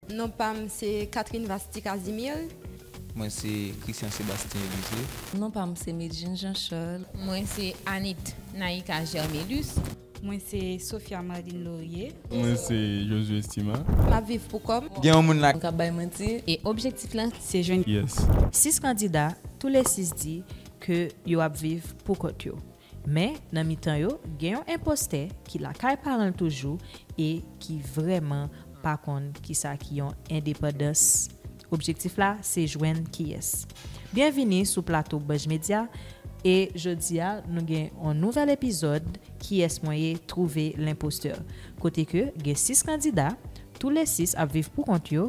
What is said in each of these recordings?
Non pa m se Catherine Vasthi Casimir. Mwen se Christian Sebastien Elisee. Non pa m se Medjine Jean Charles. Mwen se Anit Naïka Germelus. Mwen se Sophia Marline Laurier. Mwen se Josué Estima. M ap viv pou kò m. Gen yon moun la. M k ap bay manti. E objektif la se jwenn. Yes. Sis kandida, tou le sis di ke yo ap viv pou kont yo. Men, nan mitan yo, gen yon enpostè ki lakay paran l toujou e ki vrèman pa konn ki sa ki yon endepandans. Objektif la se jwenn kiyès. Byenvini sou plato Budge Media e jodi a nou gen yon nouvèl epizòd Kiyès mwen ye, Trouver l'imposteur kote ke gen 6 kandida, tou le 6 ap viv pou kont yo,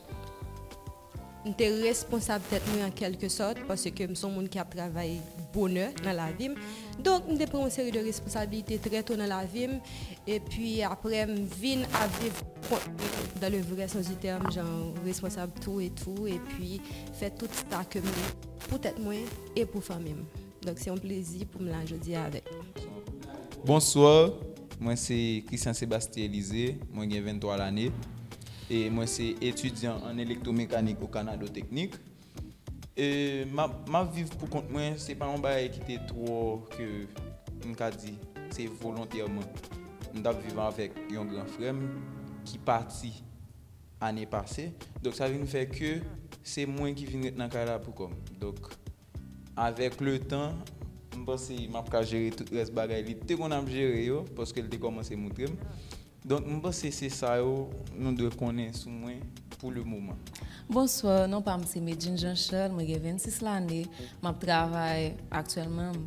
M te responsab tèt mwen an kèlke sòt paske m son moun ki ap travay bonè nan lavi m. Donk m te pran yon seri de responsabilite trè to nan lavi m. Epi aprè m vin ap viv kont mwen dan le vrè sans di tèm jan responsab tou e tou epi fè tout sa ke m pou tèt mwen e pou fanmi m. Donk se yon plezi pou m la jodi a avèk nou. Bonsoir, mwen se Christian Sebastien Elysée, mwen gen 23 lane e mwen se etidyan an elektwomekanik o Kanado Teknik. E map map viv pou kont mwen, se pa yon bagay ki te twò ke m ka di se volontèman. M tap viv avèk yon gran frè m ki pati ane pase, donk sa vin fè ke se mwen ki vin ret nan kay la pou kò m. Donk Avèk le tan, m panse m ap ka jere tout rès bagay li te konn ap jere yo, paske l te kòmanse moutre m. Donk m panse se sa yo nou dwe konnen sou mwen pou le moman. Bonsoir, non pa m se Medjine Jean Charles, mwen gen 26 lane, m ap travay aktyèlman.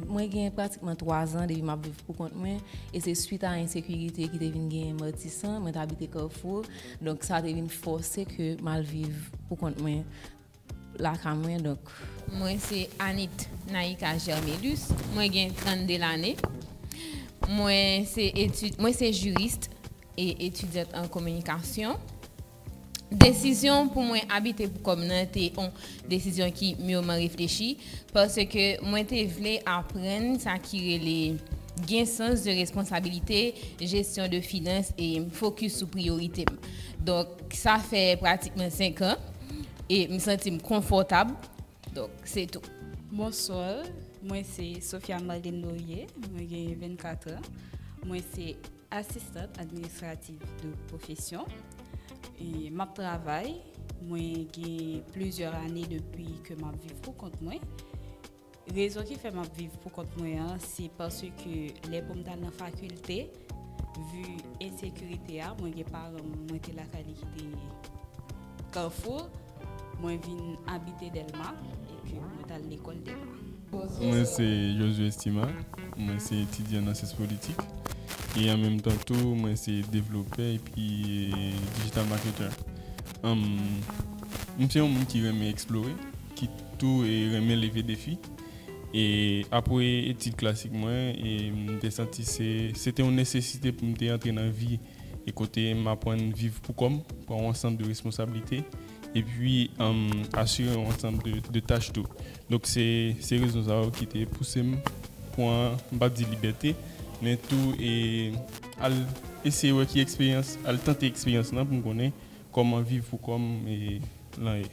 Mwen gen pratikman 3 zan depi m ap viv pou kont mwen, e se swit a ensekirite ki te vin genyen Matisan, mwen te abite Carrefour, donk sa te vin fòse ke m al viv pou kont mwen. Lakay mwen donk. Mwen se Anit Naïka Germélus, mwen gen 32 lane. Mwen se etid, mwen se jurist e etudiant an kominikasyon. Desizyon pou mwen abite pou kòm nan te on desizyon ki mireman reflechi paske mwen te vle aprann sa ki rele gen sans de responsabilite, jesyon de finans e fokis sou priyorite m. Donk sa fè pratikman 5 an. e m santi m konfòtab, donk se tou. Bonsoir, mwen se Sophia Marlene Laurier, mwen gen 24 an, mwen se asistant administratif de profession, e m ap travay, mwen gen plizyè ane depi ke m ap viv pou kont mwen. Rezon ki fè map viv pou kont mwen an se paske lè poum tal nan fakilte vu ensekirite a mwen gen paranm mwen te lakay li ki te Carrefour mwen vin abite Delma epi mwen tal lekòl Delma. Mwen se Josué Estima, mwen se etidyan nan syans politik e an menm tan tou mwen se devlopè epi digital marketer. M se yon moun ki renmen eksplore. ki tou renmen leve defi. E apre etid klasik mwen, m te santi se te yon nesesite pou m te antre nan vi e kote m aprann viv pou kò m, pran yon ansanm de responsablite, epi asire yon ansanm de tach tou. Donk se rezon sa yo ki te pouse m pran, m pa di libète, men tou al eseye wè ki eksperyans, al tante eksperyans lan pou m konnen Koman viv pou kom lan ye.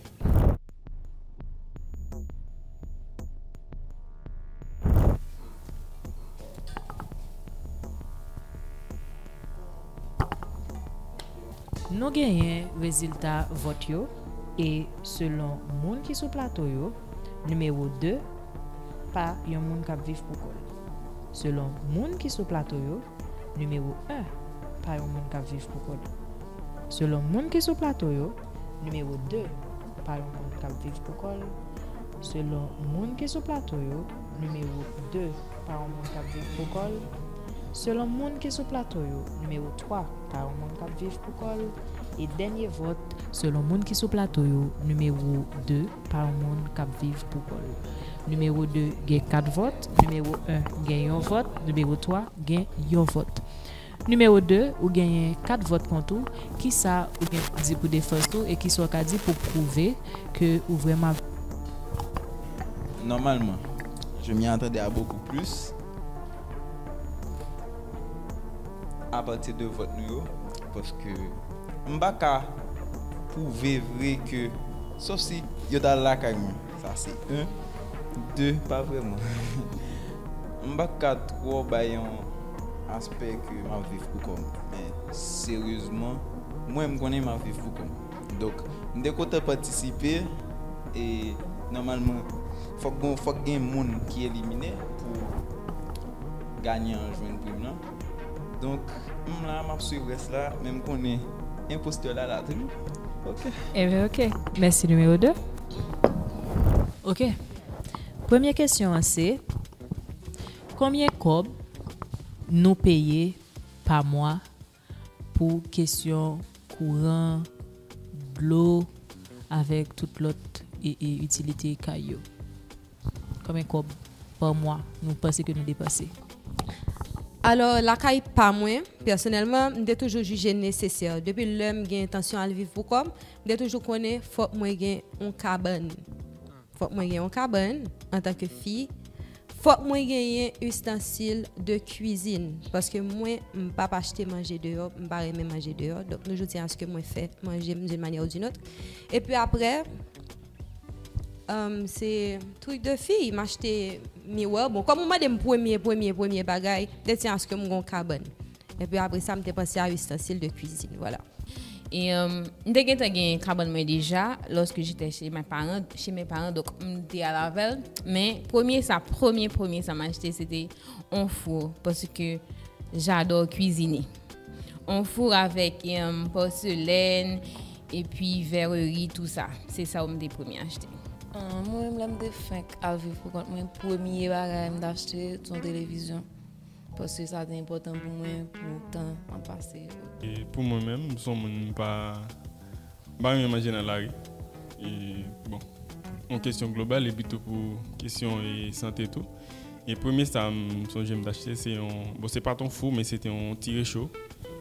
Nou genyen rezilta vòt yo e selon moun ki sou plato yo, nimewo 2 pa yon moun k ap viv pou kò l. Selon moun ki sou plato yo, nimewo 1 pa yon moun k ap viv pou kò l. Selon moun ki sou plato yo, nimewo 2 pa yon moun k ap viv pou kò l. Selon moun ki sou plato yo, nimewo 2 pa yon moun k ap viv pou kò l. Selon moun ki sou plato yo, nimewo 3 pa yon moun k ap viv pou kò l. E dènye vòt, selon moun ki sou plato yo, nimewo 2 pa yon moun k ap viv pou kò l. Nimewo 2 gen 4 vòt, nimewo 1 gen yon vòt, nimewo 3 gen yon vòt. Nimewo 2, Ou genyen kat vòt kont ou, kisa ou gen pou di pou defans ou e kisa ou ka di pou pwouve ke ou vrèman ap. Nòmalman. Je m'y attendais à beaucoup plus a pati de vòt nou yo paske m'pa ka pwouve vre ke sof si yo t'al lakay mwen. Sa se 1 2 pa vrèman m pa ka twò bay yon aspè ke m ap viv pou kò m men seryezman mwen m konnen m ap viv pou kò m donk m te kontan patisipe e nòmalman fòk gen moun ki elimine pou ganyan an jwenn prim lan. Donk m la map swiv rès la men m konnen enpostè la la tou ok. Ebyen ok mèsi nimewo 2. Ok premye kesyon an se konbyen kòb nou peye pa mwa pou kesyon kouran dlo avèk tout lòt itilite kay yo. Konbyen kòb pa mwa nou panse ke nou depanse? Alò, lakay pa mwen, pèsonèlman, m te toujou jije nesesè. Depi lè m gen entansyon al viv pou kò m, m te toujou konnen fòk mwen gen yon kabann. Fòk mwen gen yon kabann antanke fi. Fòk mwen genyen istansil de kwizin. Paske mwen, m pa p achte manje deyò, m pa renmen manje deyò. Donk nou jou di a aske mwen fè manje m doun manyè ou doun lòt. Epi aprè. Humm se truc de fille m achte miwè bon kòm ou mande m premye premye premye bagay m te di aske m gon kabann epi apre sa m te panse a ustensil de cuisine vwala. Humm m te gentan gen kabann mwen deja lorsque j'etais chez mes parents chez mes parents donk m te al avèl men premye sa premye premye sa m achte se te on four paske j'adore cuisiner. On four avèk porselèn epi vèrerie tou sa. Se sa yo m te premye achte. Mwen menm lè m te fenk al viv pou kont mwen, premye bagay m t achte se yon televizyon. Paske sa te enpòtan pou mwen pou tan m ap pase yo. Pou mwen menm, m son moun m pa renmen manje nan lari. E bon, yon kesyon global e pito pou kesyon sante tou. E premye sa m sonje m t achte se yon, bon se pa t yon fou men se te yon ti recho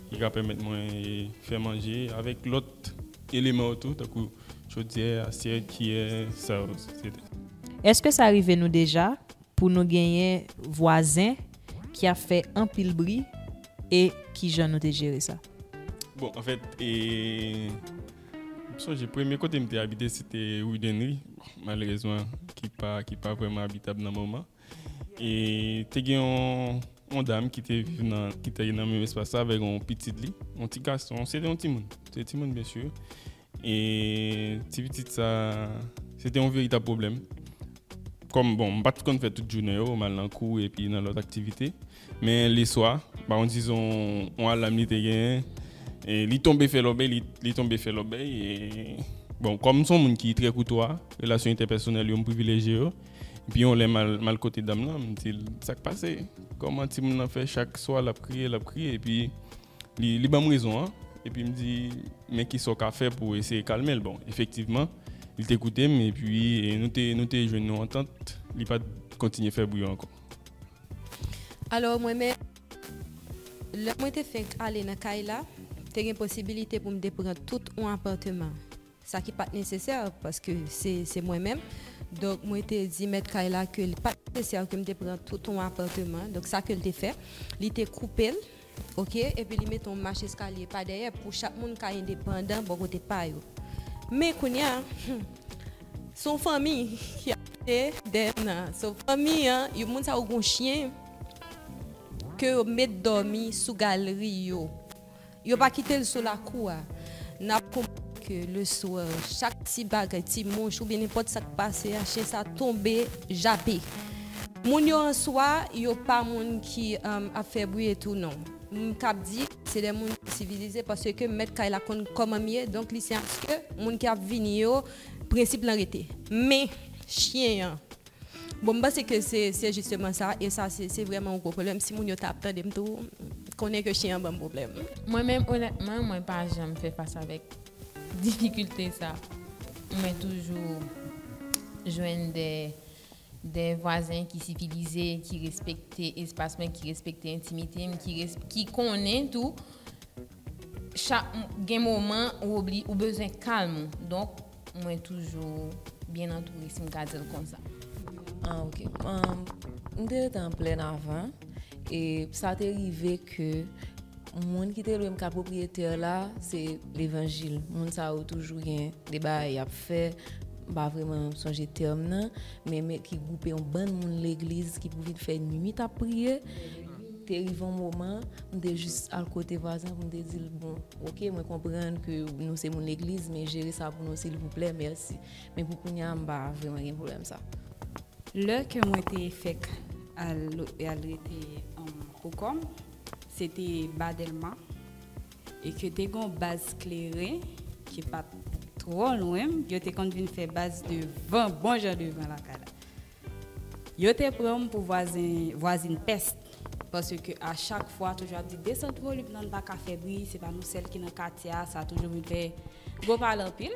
ki ka pèmèt mwen fè manje avèk lòt eleman yo tou tankou chodyè, asyèt, kiyè, sa yo etc. Èske sa rive nou deja pou nou genyen vwazen ki ap fè anpil bri e kijan nou te jere sa? Bon anfèt e. M sonje premye kote m te abite se te Rue d'Henry, malerezman ki pa ki pa vrèman abitab nan moman. E te gen yon yon dam ki te viv nan ki te nan menm espas la avèk yon pitit li, yon ti gason, se te yon timoun, se te timoun byen sur. E ti pitit sa se te yon veritab pwoblèm. Kòm bon m pa t konn fè tout jounen yo, m al nan kou epi nan lòt aktivite. Men le swa, ba on dizon on alam li te genyen, e li tonbe fè lòbèy, li tonbe fè lòbèy, e bon kòm son moun ki trè koutwa, relasyon entèpèsonèl yo m privilejye yo, epi yon lè m al kote dam lan, m di l sa k pase, kòman ti moun lan fè chak swa l ap kriye, l ap kriye, epi li ban m rezon an, epi m di men ki sa w ka fè pou w eseye kalme l, bon efektivman li te koute m, epi nou te jwenn yon antant, li pa t kontinye fè bri ankò. Alò, mwen menm, lè mwen te fenk ale nan kay la, te gen posibilite pou m te pran tout on apatman, sa ki pa t nesesè paske se mwen menm. Donk, mwen te di mèt kay la ke li pa t nesesè ke m te pran tout on apatman. Donk, sa ke l te fè, li te koupe l. Ok epi li mete yon mach eskalye pa dèyè pou chak moun ka endepandan bò kote pa yo men kounya humm son fanmi ki ap pete dèyè nan so fanmi an yo moun sa yo gon chyen ke yo met dòmi sou galri yo yo pa kitel sou lakou a nap. ke le swè chak ti bagay ti mouch oubyen nenpòt sak pase a chyen sa tonbe jape moun yo an swa yo pa moun ki ap fè bri etou non m kab di se de moun ki sivilize paske mèt kay la konn kòman m ye donk li se aske moun ki ap vini yo prensip lan rete men chyen an. Bon m panse ke se se jisteman sa e sa se se vrèman yon gwo pwoblèm si moun yo ta ap tande m tou konnen ke chyen an ban m pwoblèm. Mwen menm onètman mwen pa janm fè fas avèk difikilte sa mwen toujou jwenn de de vwazen ki sivilize ki respekte espas mwen ki respekte entimite m ki res ki konnen tou chak gen moman ou obli ou bezwen kalm ou donk Mwen toujou byen antoure si m ka di l konsa. Ah ok. M te rete an plèn avan e sa te rive ke moun ki te lwe m ka pwopriyetè la se levanjil. Moun sa yo toujou gen de bagay y ap fè, m pa vreman sonje tèm nan, men ki gwoupe yon bann moun legliz ki pou vin fè nuit ap priye. Te rive yon moman, m te jis al kote vwazen pou m te di l, bon, ok, mwen konprann ke nou se moun legliz, men jere sa pou nou silvouplè, mèsi. Men pou kounye a, m pa vreman gen pwoblèm sa a. Lè ke mwen te fèk al al rete pou kò m, se te Ba Dèlma, e ke te gen yon baz kleren ki pa t twò lwen m, yo te konn vin fè baz devan, bon jan devan lakay la. Yo te pranm pou vwazen vwazin pès paske a chak fwa toujou ap di desant volum nan pa ka fè bri se pa nou sèl ki nan katye a sa toujou vin fè gwo pale anpil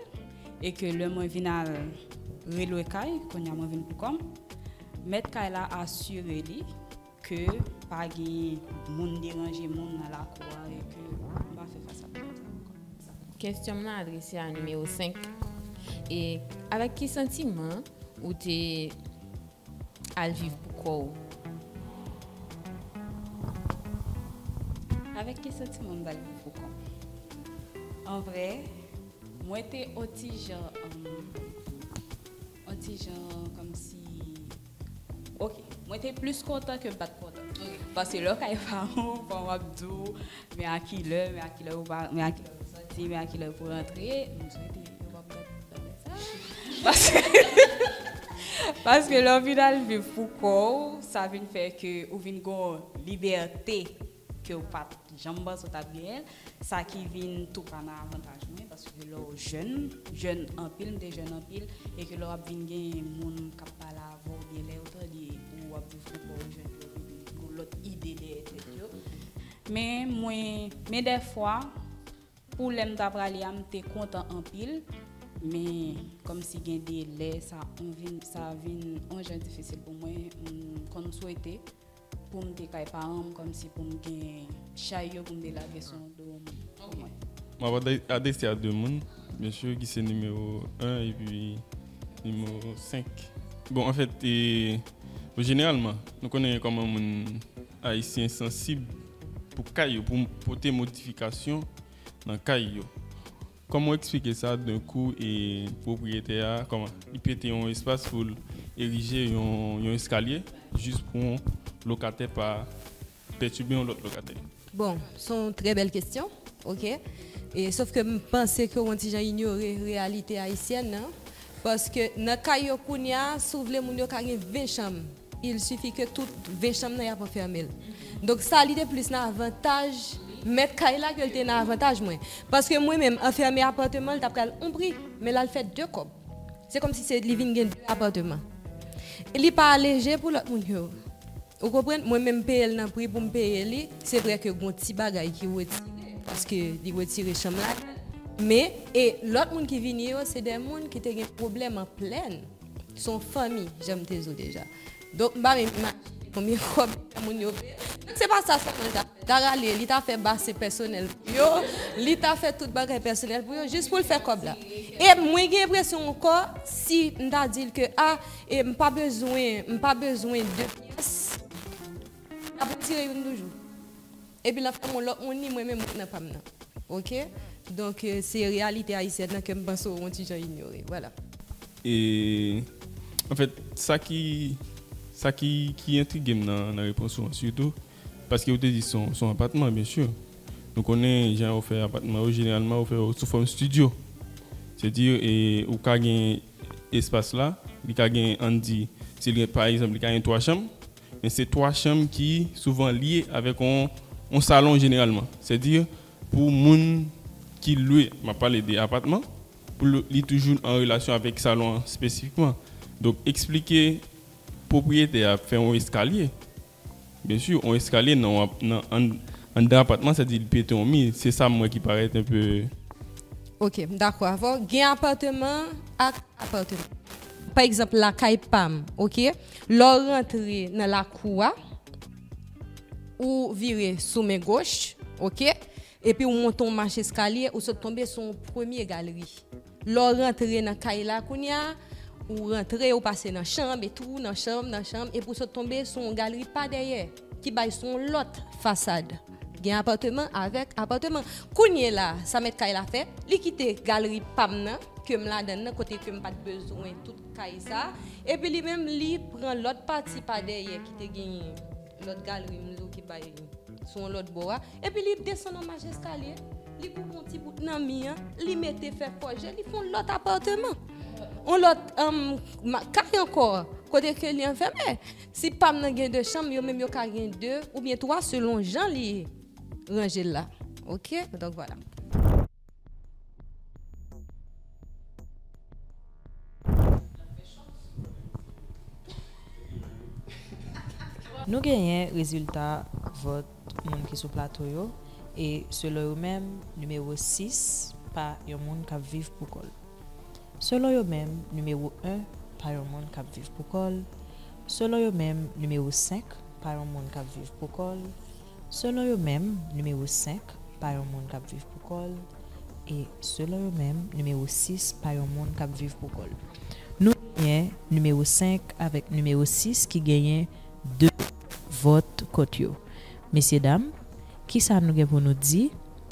e ke lè mwen vin al relwe kay kounya mwen vin pou kòm mèt kay la asire li Ke pa genyen moun deranje moun nan lakou a e ke nou pa fè fas a pwoblèm sa ankò. Kestyon m nan adrese a nimewo 5. E avèk ki santiman ou te al viv pou kò ou? Avèk ki santiman m t al viv pou kò m? An vrè, mwen te on ti jan. On ti jan kòmsi ok. Mwen te plis kontan ke bat kontan. Pase lè w kay paran w, paran w ap di w men a ki lè, men a ki lè ou pa, men a ki lè pou sòti, men a ki lè pou rantre. M swete yo pa pran tan fè sa. Paske paske lè w vin al viv pou kò w, sa vin fè ke ou vin gon libète. kew pat janm panse w tap genyen l, sa ki vin tou pa nan avantaj mwen paske lè w jèn, jèn anpil, m te jèn anpil e ke lè wap vin genyen moun kap pale avè w oubyen lè yo tande ou wap viv pou kòw jèn yo vin gen yon lòt ide dèyè tèt yo men mwen men dèfwa pou lèm ta prale a m te kontan anpil men kòmsi gen de lè sa vin yon jan difisil pou mwen m konn swete. Poum te kay paranm komsi poum t gen chay yo poum te lage sou do pou mwen. Map adrese a 2 moun mesye ki se nimewo 1 epi nimewo 5 bon anfèt jeneralman nou konnen kòman moun ayisyen sansib pou kay yo pou pote modifikasyon nan kay yo Koman w eksplike sa d'un coup e pwopriyetè a koman li pete yon espas pou l erije yon eskalye jis pou yon lokatè pa pètibe yon lòt lokatè? Bon, se yon trè bèl kestyon, ok. Sof ke m panse ke w yon ti jan inyore reyalite ayisyèn an. Paske nan kay yo kounya, si w vle moun yo ka gen 20 chanm. Il suffit ke tout 20 chanm nan yap anfèmel. Donk sa li te plis nan avantaj mèt kay la ke li te nan avantaj mwen. Paske mwen menm anfème apàteman li ta pral on pri, men la li fè 2 kòb. Se kòm si se li vin gen 2 apàteman. E li pa leje pou lòt moun yo. Ou konprann? Mwen menm peyel nan pri poum peye li, se vrè ke gon ti bagay ki retire paske li retire chanm ladann, men e lòt moun ki vini yo se 2 moun ki te gen pwoblèm an plèn. Son fanmi jan m te zo deja. Donk m pa menm imajine konbyen kòb li fè moun yo peye. Donk se pa sa sèlman li ta fè. Li ta rale, li ta fè base pèsonèl pou yo, li ta fè tout bagay pèsonèl pou yo jis pou l fè kòb la. E mwen gen enpresyon ankò si m ta di l ke a e m pa bezwen m pa bezwen 2 pyès, l ap retire youn toujou. Epi nan fèm wè lòt moun li mwen menm mwen nan pam nan ok donk se reyalite ayisyèn nan kem panse ou yon ti jan inyore vwala. E anfèt sa ki sa ki ki entrigem nan nan repons ou an sitou paske ou te di son son apatman byen sûr nou konnen jan yo fè apatman yo jeneralman yo fè yo sou fòm studio se di e ou ka gen espas la li ka gen ann di sil gen pa egzanp li ka gen 3 chanm Men se 3 chanm ki souvan lye avèk yon salon jeneralman. Sèdi pou moun ki lwe, m ap pale de apatman, pou li toujou an relasyon avèk salon an espesifikman. Donk eksplike pwopriyetè a fè yon eskalye. Byen si, yon eskalye anndan apatman sèdi li pete yon mi. Se sa m wè ki parèt anpe. Ok, m dakò avè w. Gen apatman ak apatman. Pa egzanp lakay pa m, ok. Lè w rantre nan lakou a, ou vire sou men goch, ok, epi ou monte yon mach eskalye, ou sot tonbe sou yon premye galeri. Lè w rantre nan kay la kounye a, ou rantre, ou pase nan chanm, etou, nan chanm, nan chanm, epi ou sot tonbe sou yon galeri pa dèyè. Ki bay sou yon lòt fasad. Gen apatman avèk apatman. Kounye la, sa mèt kay la fè, li kite galri pa m nan, ke m ladan l nan, kote ke m pa t bezwen tout kay sa a. Epi li menm, li pran lòt pati pa dèyè ki te genyen lòt galri m yo ki bay sou yon lòt bò a. Epi li desann an mach eskalye, li koupe yon ti bout nan mi an, li mete fè fòje, li fè yon lòt apatman. Yon lòt kay ankò, kote ke li anfème. Si pam nan gen 2 chanm yo menm yo ka gen 2 oubyen 3 selon jan li ranje l la ok donk vwala. Nou genyen rezilta vòt moun ki sou plato yo e selon yo menm nimewo 6 pa yon moun kap viv poukòl. Selon yo menm, nimewo 1 pa yon moun k ap viv pou kò l, selon yo menm, nimewo 5 pa yon moun k ap viv pou kò l, selon yo menm, nimewo 5 pa yon moun k ap viv pou kò l, e, selon yo menm, nimewo 6 pa yon moun k ap viv pou kò l. Nou genyen nimewo 5 avèk nimewo 6 ki genyen 2 vòt kont yo. Mesyedam, Kisa nou gen pou nou di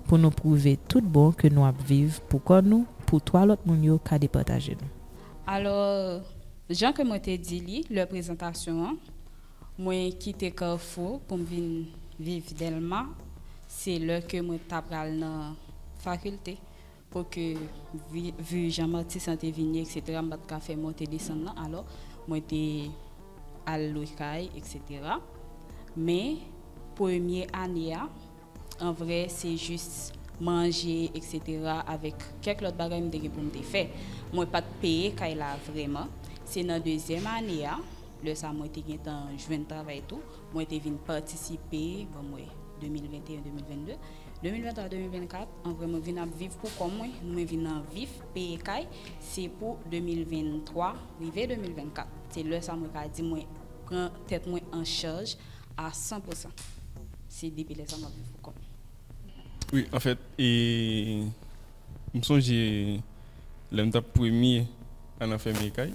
pou nou pwouve tout bon ke nou ap viv pou kò nou pou 3 lòt moun yo ka depataje nou? Alò, jan ke mwen te di li lè prezantasyon an, mwen kite Carrefour pou m vin viv Dèlma, se lè ke mwen ta pral nan fakilte. Pwòke vu jan Martys lan te vini etc m pat ka fè monte desann lan alò mwen te al lwe kay etc men premye ane a an vrè se jis manje etc avèk kèk lòt bagay m te gen pou m te fè mwen pat peye kay la vrèman se nan dezyèm ane a lè sa mwen te gentan jwenn travay tou mwen te vin patisipe banm wè 2021 2022. 2023 2024 an vre mwen vin ap viv pou kòm mwen mwen vin nan vif peye kay se pou 2023 rive 2024 se lè sa mwen ka di mwen pran tèt mwen an chaj a 100 pou 100 se depi lè sa map viv pou kòm mwen. Wi anfèt e M sonje lè m t ap premye al anfèmye kay,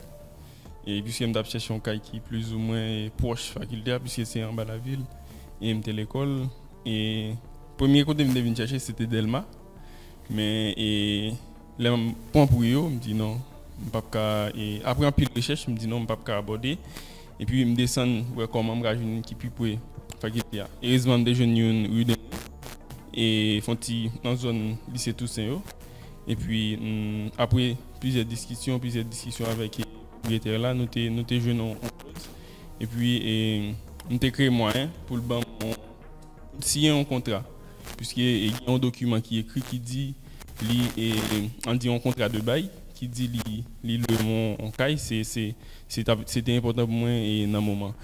e piske m t ap chèche yon kay ki plizoumwen pwòch fakilte a, piske se anba lavil e m te lekòl. E premye kote m te vin chèche se te Dèlma, men e lè m pran pou yo, m di non, m p ap ka, e apre anpil rechèch, m di non, m p ap ka abòde. Epi m desann wè kòman m ka jwenn youn ki pi pre fakilte a. Erezman m te jwenn youn Rue de Nil e fon ti nan zòn Lise Tousen yo. Epi apre plizyè diskisyon, plizyè diskisyon avèk pwopriyetè la, nou te jwenn yon klòz. Epi m te kreye mwayen pou l ban m yon. Siyen yon kontra, piske gen yon dokiman ki ekri ki di li, an di yon kontra de bay, ki di li li lwe mwen yon kay, se se se t ap se te enpòtan pou mwen nan moman.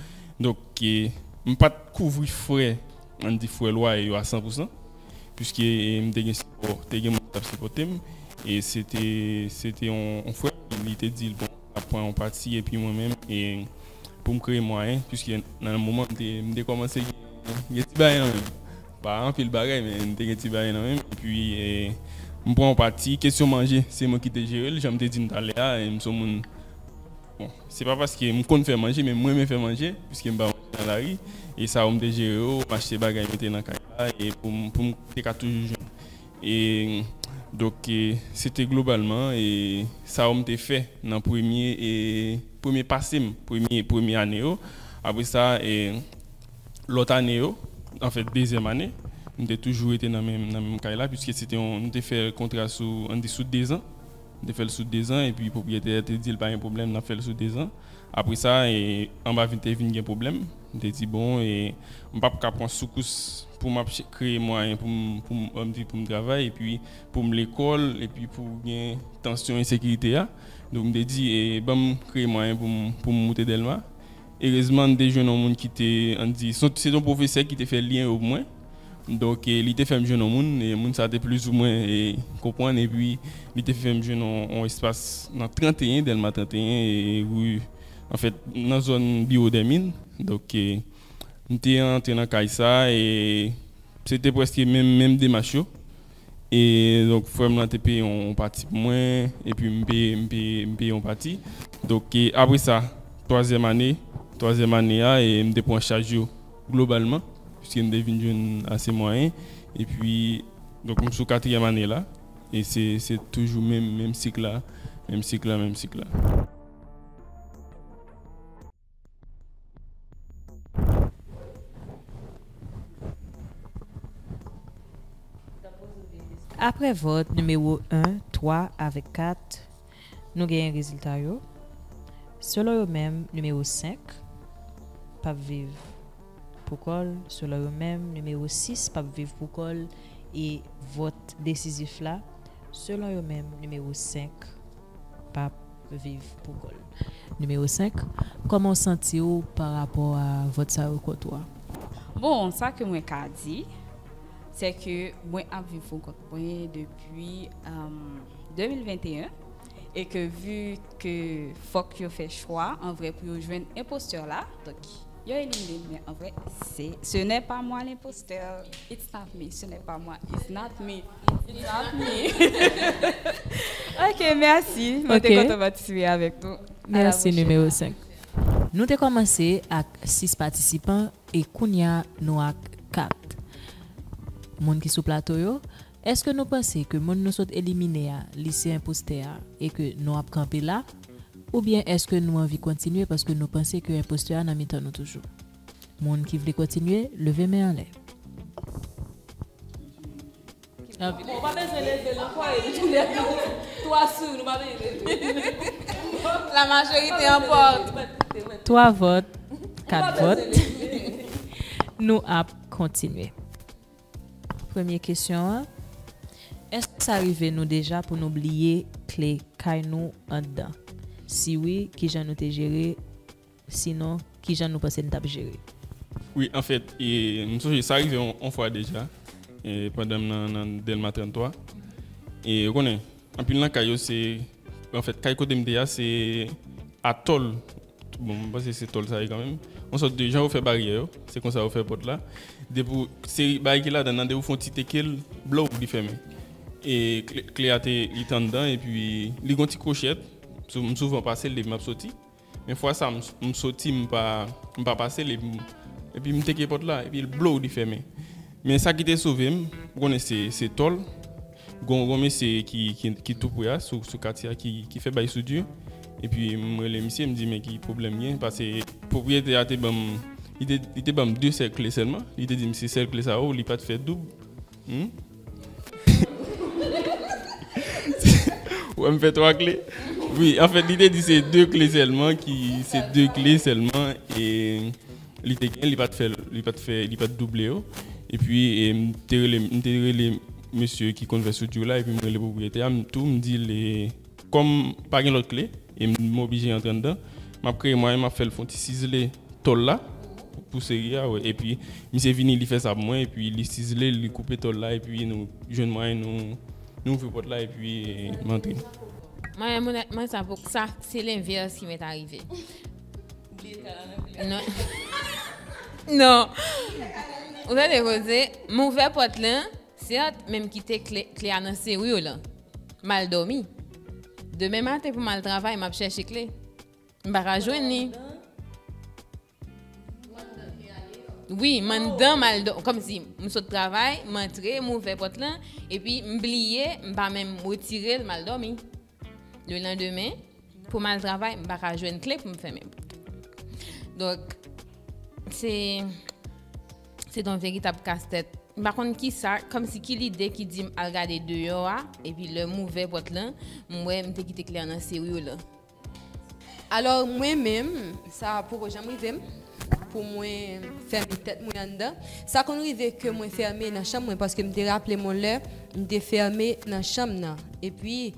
Donk m pa t kouvri frè, an di frè lwaye yo a san pou san, piske m te gen sipò, te gen moun ki t ap sipòte m e se te se te yon frè m li te di l bon, N ap pran yon pati epi mwen menm e pou m kreye mwayen piske nan moman m te m te kòmanse gen ti bagay nan men m. Pa anpil bagay men m te gen ti bagay nan men m epi m pran yon pati. Kesyon manje se mwen ki te jere l jan m te di n talè a e m son moun bon se pa paske m konn fè manje men m renmen fè manje piske m pa manje nan lari e sa yo m te jere yo m achte bagay mete nan kay la e pou m pou m te ka toujou jwenn. E donk se te globalman sa yo m te fè nan premye pase m, premye ane yo. Apre sa, lòt ane yo, anfèt dezyèm ane, m te toujou rete nan menm kay la piske nou te fè kontra sou dezan. M te fè l sou dezan epi pwopriyetè a te di l pa gen pwoblèm n ap fè l sou dezan. Apre sa, anba te vin gen pwoblèm. M te di bon, m p ap ka pran soukous pou m ap kreye mwayen pou m viv, pou m travay epi pou m lekòl epi pou gen tansyon ensekirite a. Donk m te di ban m kreye mwayen pou m moute Dèlma. Erezman m te jwenn yon moun ki te, an n di, se te yon pwofesè ki te fè lyen yo pou mwen. Donk, li te fè m jwenn yon moun e moun sa a te plizoumwen konprann epi li te fè m jwenn yon espas nan 31, Dèlma 31 e Ri, anfèt, nan zòn Biwo Dèmin. Donk, m te antre nan kay sa a e se te prèske menm demach yo. E donk frè m lan te peye yon pati pou mwen epi m peye yon pati. Donk e apre sa twazyèm ane, twazyèm ane a e m te pran chaj yo globalman piske m te vin jwenn ase mwayen. Epi donk m sou katriyèm ane la e se toujou menm sik la, menm sik la, menm sik la. Aprè vòt nimewo 1, 3 avèk 4, nou genyen rezilta yo. Selon yo menm, nimewo 5 p ap viv pou kò l. Selon yo menm, nimewo 6 p ap viv pou kò l. E vòt desizif la, selon yo menm, nimewo 5 pap viv pou kòl. Nimewo 5, Kòman w santi w pa rapò a vòt sa yo kont ou a? Bon, sa ke mwen ka di, se ke mwen ap viv pou kont mwen depi 2021 e ke vu ke fòk yo fè chwa an vrè pou yo jwenn enpostè la, donk. Yo elimine l men anvre se ce n'est pas moi l'imposteur it's not me ce n'est pas moi it's not me it's not me ok merci mwen te kontan patisipe avèk nou merci numero 5. Nou te kòmanse ak 6 patisipan e kounya nou ak 4 moun ki sou plato yo eske nou panse ke moun nou sot elimine a li se enpostè a e ke nou ap kanpe la? Oubyen èske nou anvi kontinye paske nou panse ke enpostè a nan mitan nou toujou? Moun ki vle kontinye, leve men anlè. Twa vòt, kat vòt, nou ap kontinye. Premye kesyon an, Èske sa rive nou deja pou nou bliye kle kay nou anndan? Si wi, kijan nou te jere? Sinon, kijan nou panse n t ap jere? Wi, anfèt, m sonje sa rive yon fwa deja pandan m nan Dèlma 33. Ou konnen, Anpil nan kay yo se, anfèt kay kote m te a se a tòl, bon m panse se tòl sa ye kanmenm, yon sòt de jan yo fè baryè yo, se konsa yo fè pòt la, depi w, se bagay ki ladan nan, depi w fè yon ti teke l, blow li fèmen. E kle a te, li te anndan epi li gen yon ti kwochèt, m souvan pase l depi m ap soti. Men fwa sa m soti m pa pase li epi m teke pòt la epi blow li fèmen. Men sa ki te sove m, ou konnen se tò l, gon yon mesye ki tou pre a sou katye a ki fè bay soudure epi m rele misye m di men ki pwoblèm gen pase pwopriyetè a te banm li te banm 2 sèk kle sèlman li te di m se sèl kle sa yo li pat fè doub. Ou wè m fè 3 kle? Wi, anfèt li te di se 2 kle sèlman ki, se 2 kle sèlman e li te gen, li pa t fè, li pa t fè, li pa t double yo. Epi m te rele, m te rele mesye ki konn fè soudure la epi m rele pwopriyetè a m tou m di l e. Kòm pa gen lòt kle e m oblije antre anndan, m ap kreye mwayen m ap fè l fè yon ti sizle tòl la pou seri a wè. Epi misye vini li fè sa pou mwen epi li sizle l, li koupe tòl la epi nou jwenn mwayen nou nou ouvri pòt la epi m antre. Mwayen m onètman sa poko sa se lenvèse ki mèt arive. Non. Ou tande koze? M ouvè pòt lan. Seat menm kite kle kle a nan serur lan mal domi demen maten pou mal travay map chèche kle m paka jwenn li wi m anndan mal do kòmsi m sot travay m antre m ouvè pòt lan epi m bliye m pa menm retirel mal domi. Le landemen, pou m al travay, m pa ka jwenn kle pou m fèmen pòt. Donk, se, se ton veritab kas tèt. M pa konn ki sa, kòm si ki lide ki di m al gade deyò a, epi lè m ouvè pòt lan, m wè m te kite kle an nan seri w lan. Alò mwen menm, sa poko janm rive m pou mwen fèmen tèt mwen anndan. Sa konn rive ke mwen fèmen nan chanm mwen paske m te raple m on lè m te fèmen nan chanm nan. Epi,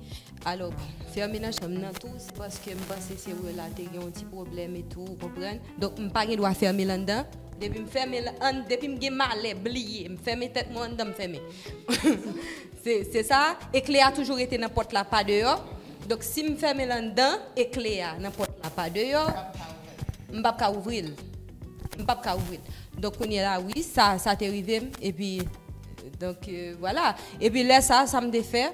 alò bon, fèmen nan chanm nan tou se paske m panse se wè la te gen on ti pwoblèm etou, ou konprann. Donk m pa gen dwa fèmen l anndan. Depi m fèmen l ann, depi m gen malè bliye, m fèmen tèt mwen anndan m fèmen. Se sa, e kle a toujou rete nan pòt la pa deyò. Donk si m fèmen l anndan e kle a nan pòt la pa deyò, m p ap ka ouvri l. M p ap ka ouvri l. Donk kounye la wi, sa sa te rive m epi donk vwala. Epi lè sa a sa m te fè,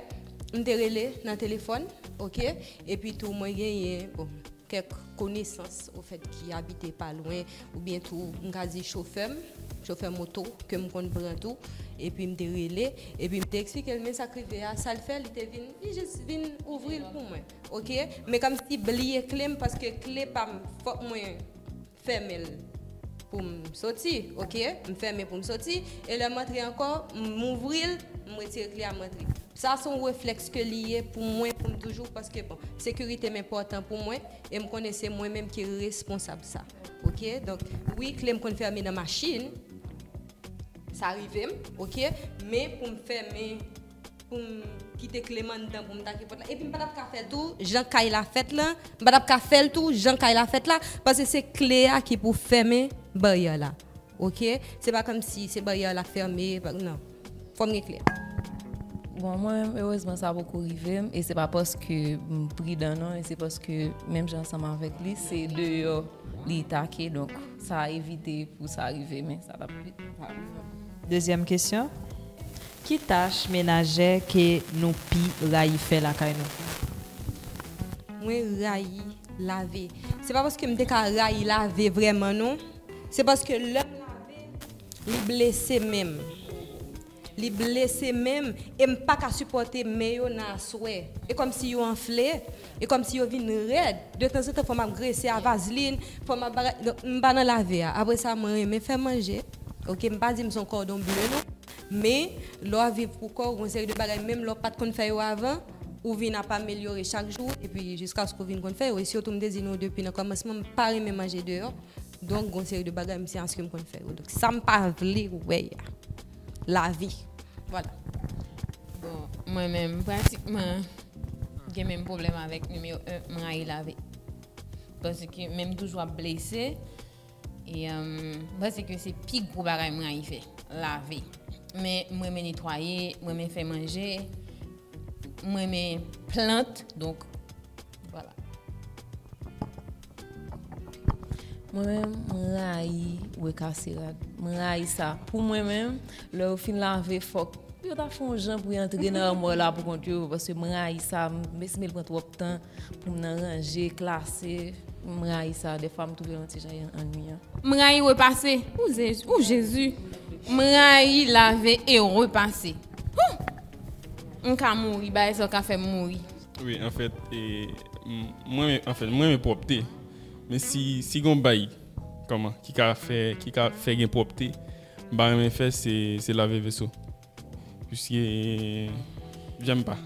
m te rele nan telefòn oke epi tou mwen genyen bon kèk konesans ofèt ki abite pa lwen. Oubyen tou m ka di chofè m, chofè moto ke m konn pran tou, epi m te rele, epi m te eksplike l men sa k rive a, sa l fè, li te vin, li jis vin ouvri l pou mwen, ok. Men kòmsi bliye kle m paske kle pa m fòk mwen fèmen l pou m soti, ok. M fèmen pou m soti, e lè m antre ankò, m ouvri l, m retire kle a, m antre. Sa s on reflèks ke li ye pou mwen pou m toujou, paske bon, sekirite m enpòtan pou mwen, e m konnen se mwen menm ki responsab sa. Ok donk wi klem konn fèmen nan machin sa rivem ok men poum fèmen poum kite klem anndan poum take pòt la epim pa tap ka fèl tou jan kay la fèt lan m pa tap ka fèl tou jan kay la fèt la paske se kle a ki pou fèmen baryè la. Ok se pa komsi se baryè la fème nan fòm gen kle. Bon mwen menm erezman sa poko rivem e se pa paske m pridan non e se paske menm jan ansanm avèk li se deyò li take donk sa evite pou sa rive men sa tap pi pa rive. Dezyèm kesyon, ki tach menajè ke nou pi rayi fè lakay nou? Mwen rayi lave. Se pa paske m te ka rayi lave vrèman non. Se paske lè m lave li blese men m. Li blese men m e m pa ka sipòte men yo nan aswè. E kòmsi yo anfle, e kòmsi yo vin rèd. De tanzantan fò m ap grese a vazlin, fò m ap bagay. Donk m pa nan lave a. Apre sa mwen renmen fè manje. Ok, m pa di m son kòdon ble non. Men, lè w ap viv pou kò w, gen yon seri de bagay menm lè w pa t konn fè yo avan, ou vin ap amelyore chak jou epi jiskaske ou vin konn fè yo. E sitou m te di nou depi nan kòmansman m pa renmen manje deyò. Donk gon seri de bagay m se aske m konn fè yo. Donk sa m pa vle wè a. Lavi. Vwala. Bon, mwen menm pratikman gen menm pwoblèm avèk nimewo 1, m rayi lavi. Paske menm tou jou ap blese, e m panse ke se pi gwo bagay m rayi fè. Lavi. Men m renmen netwaye, m renmen fè manje, m renmen plant, donk. Vwala. Mwen menm m rayi weka se rad. M rayi sa. Pou mwen menm, lè yo fin lave fòk yo ta fon jan pou y antre nan armò la pou kont yo. Paske m rayi sa. M esime l pran twòp tan pou m nan ranje, klase. M rayi sa. Defwa m twouve l yon ti jan annuyan. M rayi repase. Ooh Jezi! M rayi lave e repase. Hoo! M ka mouri. Bagay sa yo ka fè m mouri. Wi anfèt mwen renmen pwòpte men si gon bay kòman ki ka fè ki ka fè gen pwòpte m pa renmen fè se lave veso piske janm pa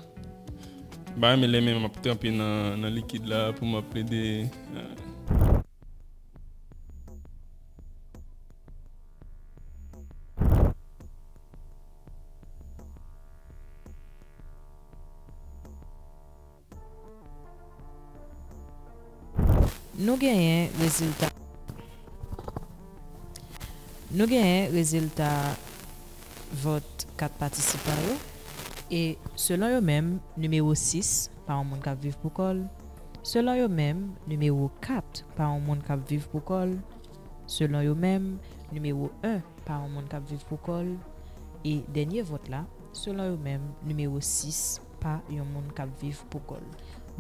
m pa renmen lè men m ap tranpe nan likid la pou m ap plede Nou genyen rezilta Nou genyen rezilta vòt 4 patisipan yo e selon yo menm nimewo 6 pa yon moun k ap viv pou kò l selon yo menm nimewo 4 pa yon moun k ap viv pou kò l selon yo menm nimewo 1 pa yon moun k ap viv pou kò l e dènye vòt la Selon yo menm, nimewo 6 pa yon moun k ap viv pou kò l.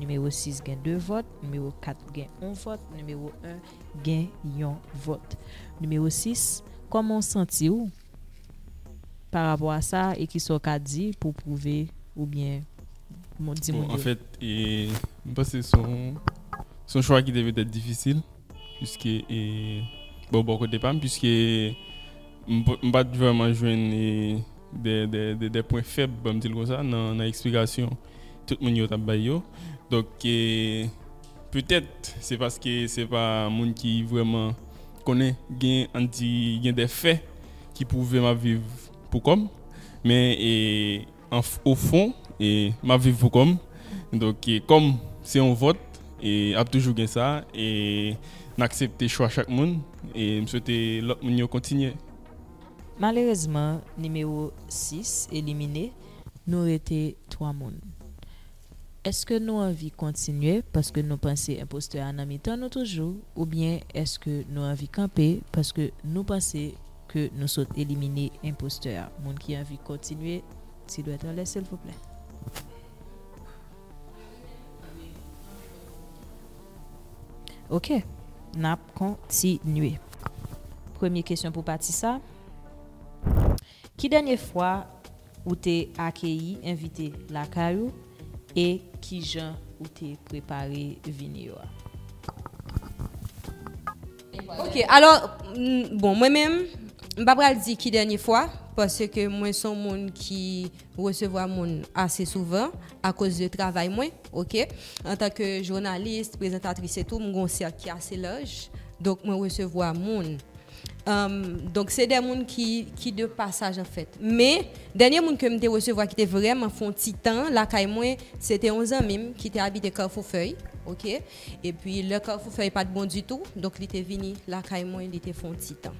Nimewo 6 gen 2 vòt, nimewo 4 gen 1 vòt, nimewo 1 gen yon vòt. Nimewo 6, kòman w santi w pa rapò a sa e ki sa w ka di pou w pwouve oubyen di moun yo? Bon, anfèt, m panse se yon chwa ki te petèt difisil, piske, bon, bò kote pa m, piske. M pa t vrèman jwenn de pwen fèb, banm di l konsa, nan eksplikasyon tout moun yo t ap bay yo. Donk, petèt se paske se pa moun ki vrèman konnen, gen an n di gen de fè ki pwouve m ap viv pou kò m. Men. Anf o fon, e m ap viv pou kò m. Donk kò m se yon vòt, e ap toujou gen sa. E n aksepte chwa chak moun. E m swete lòt moun yo kontinye. Malerezman, nimewo 6 elimine. Nou rete 3 moun. Èske nou anvi kontinye paske nou panse enpostè a nan mitan nou toujou oubyen èske nou anvi kanpe paske nou panse ke nou sot elimine enpostè a? Moun ki anvi kontinye ti dwèt anlè silvouplè. Ok, nap kontinye. Premye kesyon pou pati sa. Ki dènye fwa ou te akeyi envite lakay ou e kijan ou te prepare vini yo a? Ok, alò, bon mwen menm, m pa pral di ki dènye fwa, paske mwen son moun ki. resevwa moun ase souvan akoz de travay mwen ok antanke jounalis prezantatris etou m gon sèk ki ase laj donk mwen resevwa moun donk se de moun ki ki de pasaj anfèt men dènye moun ke m te resevwa ki te vrèman fon ti tan lakay mwen se te yon zanmi m ki te abite kafou fèy ok epi lè kafou fèy pat bon ditou donk li te vini lakay mwen li te fon ti tan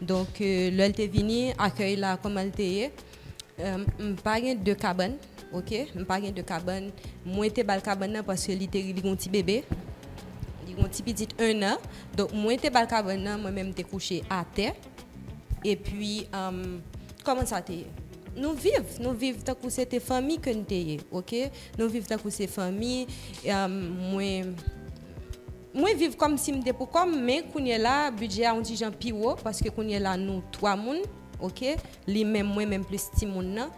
donk lè l te vini akèy la kòman l te ye. M pa gen 2 kabann ok m pa gen 2 kabann mwen te bal kabann nan paske li te li gon ti bebe li gon ti pitit 1 nan donk mwen te bal kabann nan mwen menm te kouche atè epi kòman sa te ye nou viv nou viv tankou se te fanmi ke n te ye ok nou viv tankou se fanmi mwen mwen viv kòm si m te pou kò m men kounye la bidjè a yon ti jan pi wo paske kounye la nou 3 moun ok Li menm mwen menm plis timoun nan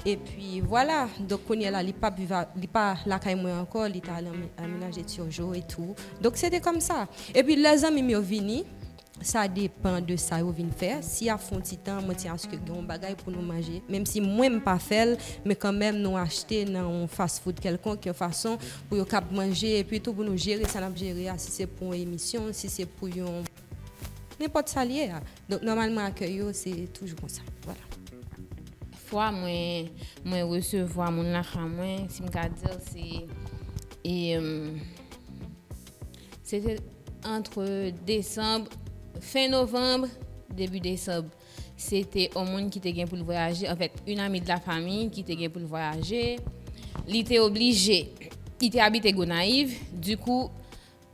epi vwala donk kounye la li pap viv li pa lakay mwen ankò li ta al anmenaje Turgeau e tou donk se te kòm sa epi lè zanmi m yo vini sa depan de sa yo vin fè si y ap fè yon ti tan mwen ti aske gen yon bagay pou nou manje menm si mwen m pa fè l men kanmèm nou achte nan yon fast food kèlkonk yon fason pou yo kab manje epi tou pou nou jere sa n ap jere a si se pou yon emisyon si se pou yon. Nenpòt sa l ye a. Donk nòmalman akèy yo se toujou konsa. Vwala. Fwa mwen mwen resevwa moun lakay mwen, si m ka di l se e se te antre desanm fen novanm debi desanm. Se te yon moun ki te gen pou l vwayaje anfèt yon ami de la fanmi ki te gen pou l vwayaje. Li te oblije li te abite Gonayiv dikou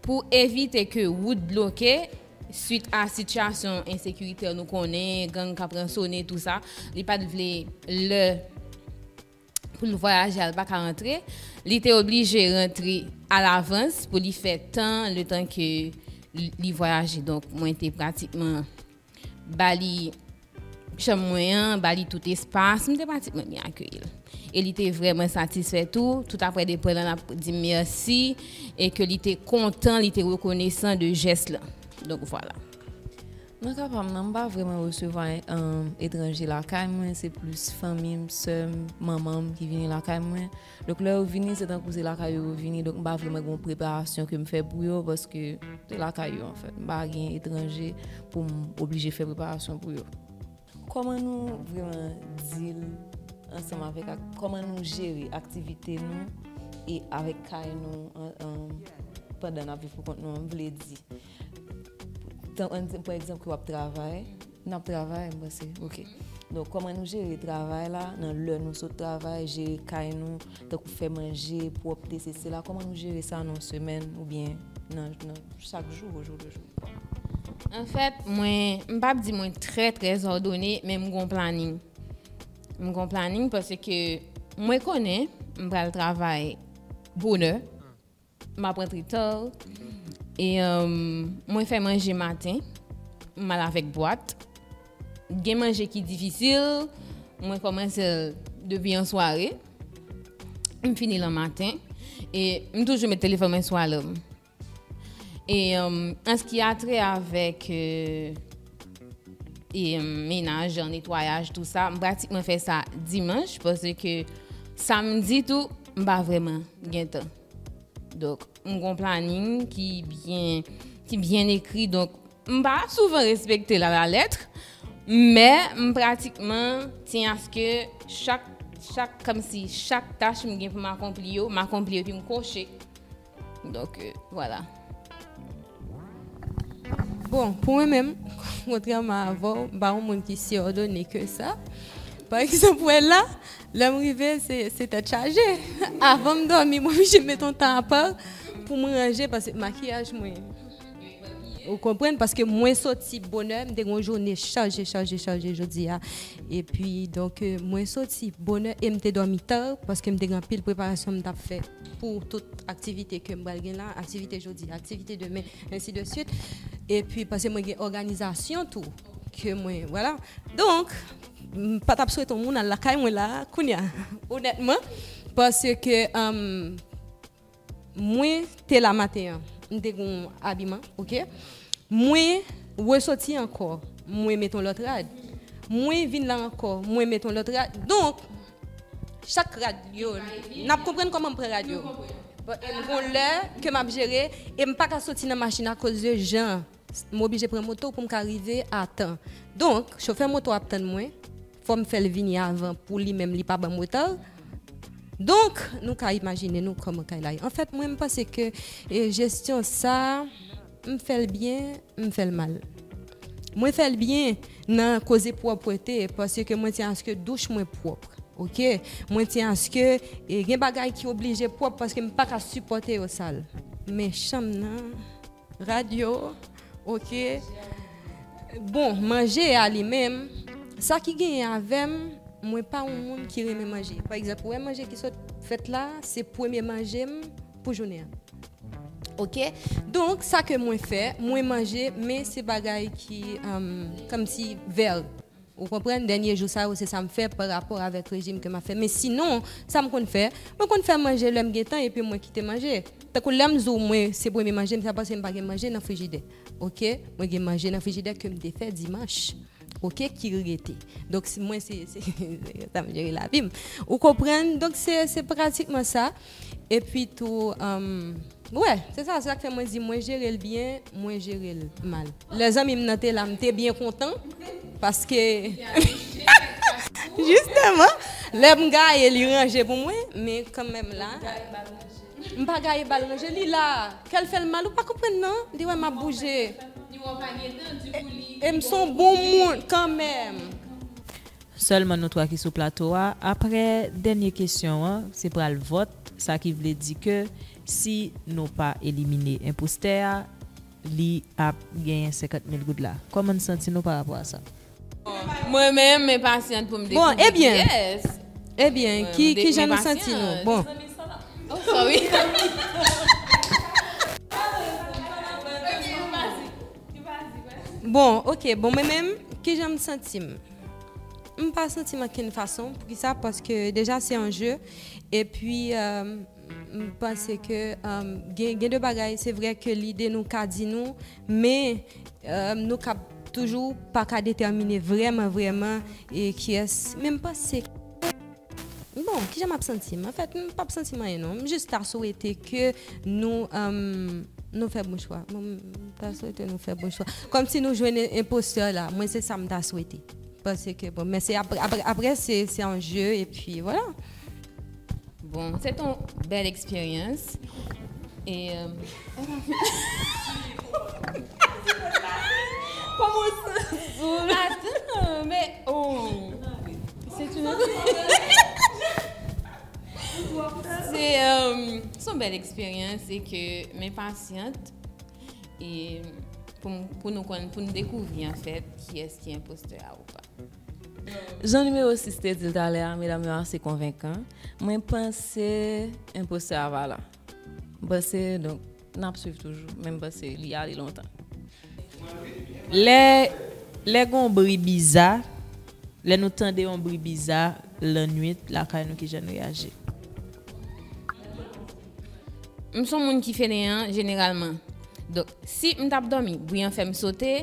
Pou evite ke wout bloke, swit a sitiyasyon ensekiritè nou konnen, gang k ap ransone tou sa, li pa t vle lè pou l vwayaje a l pa ka rantre, li te oblije rantre alavans pou li fè tan, letan ke li vwayaje. Donk mwen te pratikman. Ba li chanm mwen an, ba li tout espas, m te pratikman byen akeyi l. E li te vrèman satisfè tou, tout aprè depre lan l ap di m mèsi e ke li te kontan, li te rekonesan de jès lan. Donk vwala. Nan ka pa m nan, m pa vrèman resevwa etranje lakay mwen, se plis fanmi m, sè m, manman m ki vini lakay mwen. Donk lè yo vini se tankou se lakay yo yo vini donk m pa vrèman gen yon preparasyon ke m fè pou yo paske se lakay yo anfèt m pa gen etranje pou m oblije fè preparasyon pou yo. Kòman nou vrèman deal ansanm avèk ak kòman nou jere aktivite nou e avèk kay nou pandan n ap viv pou kont nou an m vle di pou ekzanp ke w ap travay Nap travay m panse ok. Donk kòman nou jere travay la nan lè nou sot travay jere kay nou tankou fè manje pwòpte se sela kòman nou jere sa nan yon semèn oubyen nan chak jou au jour le jour Anfèt mwen m pap di mwen trè trè zòdone men m gon planin m gon planin paske mwen konnen m pral travay bonè M aprann tritor. E mwen fè manje maten. M al avèk bwat. Gen manje ki difisil. Mwen kòmanse l depi an sware. M fini l an maten. E m toujou met telefòn mwen sou alèm. E an s ki a trè avèk. Menaj, netwayaj tou sa, m pratikman fè sa dimanch paske samdi tou m pa vrèman gen tan. Donk m gon planin ki byen ki byen ekri donk m pa souvan respekte l a la lettre men m pratikman ti aske chak chak kòmsi chak tach m gen pou m akonpli yo m akonpli yo epi m kòche. Donk vwala. Bon, pou mwen menm, kontrèman avè w, m pa yon moun ki si òdone ke sa. Pa egzanp, wè la, lè m rive se tèt chaje. Avan m dòmi, m oblije met yon tan apa pou m ranje paske makiyaj mwen ou konprann paske mwen soti bonè, m te gen yon jounen chaje, chaje, chaje jodi a. E pi donk mwen soti bonè e m te dòmi ta paske m te gen anpil preparasyon m t ap fè. pou tout aktivite ke m pral gen la, aktivite jodi, aktivite demen, ensi de swit, epi pase mwen gen òganizasyon tou, ke mwen, wala, donk, m pa t ap swete yon moun al lakay mwen la, kounye a, onètman, pase ke, mwen te la maten an, m te gen yon abiman, ok, mwen resoti ankò, mwen met yon lòt rad, mwen vin la ankò, mwen met yon lòt rad, donk. Chak rad yo nap konprann kòman m pran rad yo gon lè ke map jere e m paka soti nan machin akoz de jan m oblije pran moto pou m ka rive a tan donk chofè moto ap tann mwen fò m fè l vini avan pou li menm li pa banm reta donk nou ka imajine nou kòman kay la ye anfèt mwen m panse ke jesyon sa. M fè l byen, m fè l mal. Mwen fè l byen nan koze pwòpwete paske mwen tyen aske douch mwen pwòp. Ok. Mwen tyen aske gen bagay ki oblije pwòp paske m pa ka sipòte yo sal. Men chanm nan, rad yo, ok. Bon, manje a li menm, sa ki genyen avè m, mwen pa yon moun ki renmen manje. Pa egzanp, ou wè manje ki sot fèt la, se premye manje m, Pou jounen an ok donk sa ke mwen fè mwen manje men se bagay ki komsi vèl ou konprann dènye jou sa yo se sa m fè pa rapò avèk rejim ke m ap fè men sinon sa m konn fè mwen konn fè manje lè m gen tan epi mwen kite manje tankou lè m di w mwen se premye manje m se paske m pa gen manje nan frijidè ok mwen gen manje nan frijidè ke m te fè dimanch ok ki rete donk mwen se konsa m jere lavi m ou konprann donk se pratikman sa. Epi tou, wè, se sa, se sa k fè mwen di mwen jere l byen, mwen jere l mal. Lè zanmi m nan te la, m te byen kontan paske jisteman lè m gaye li ranje pou mwen, men kanmenm la m pa gaye ba l ranje, li la a, kè l fè l mal ou pa konprann nan, li wè m ap bouje e m son bon moun kanmenm. Sèlman nou 3 ki sou plato a. Aprè dènye kesyon an, se pral vòt, sa ki vle di ke si nou pa elimine enpostè a, li ap genyen 50 mil goud la. Kòman n santi nou pa rapò a sa? Mwen menm, m enpasyant pou m dekouvri kiyès. Ebyen, kijan nou santi nou? Bon. Oh sorry. Bon, ok, bon mwen menm, kijan m santi m? M pa santi m ankenn fason. Poukisa? Paske deja se yon je. E pi m panse ke gen de bagay se vre ke lide nou ka di nou. Men nou ka toujou pa ka detèmine vreman vreman e kiyès. Men m panse. Bon, kijan map santi m? Anfèt, m pap santi m anyen non. M jis ta swete ke nou nou fè bon chwa. M ta swete nou fè bon chwa. Kòm si nou jwenn enpostè la. Mwen se sa m ta swete. Pase ke bon. Men se apre se yon je e pi vwala. Bon, se te yon bèl eksperyans. E. Son bèl eksperyans e ke m enpasyant e pou nou konn, pou nou dekouvri an fèt kiyès ki enpostè a ou pa. Jan nimewo 6 te di l talè a, medam yo ase konvenkan, mwen panse enpostè a pa la. M'panse donk n'ap swiv toujou men m'panse li ale lontan. Lè lè gon bri biza, lè nou tande yon bri biza lannuit lakay nou kijan nou reyaji? M son moun ki feneyan jeneralman donk si m tap dòmi bri an fèm sote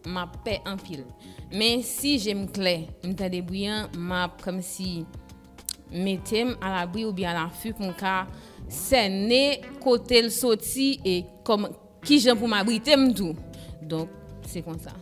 map pè anpil men si jem klè m tande bri an map kòmsi metem alabri oubyen alafi pou m ka sène kote l soti e kòman kijan pou m abrite m tou donk se konsa.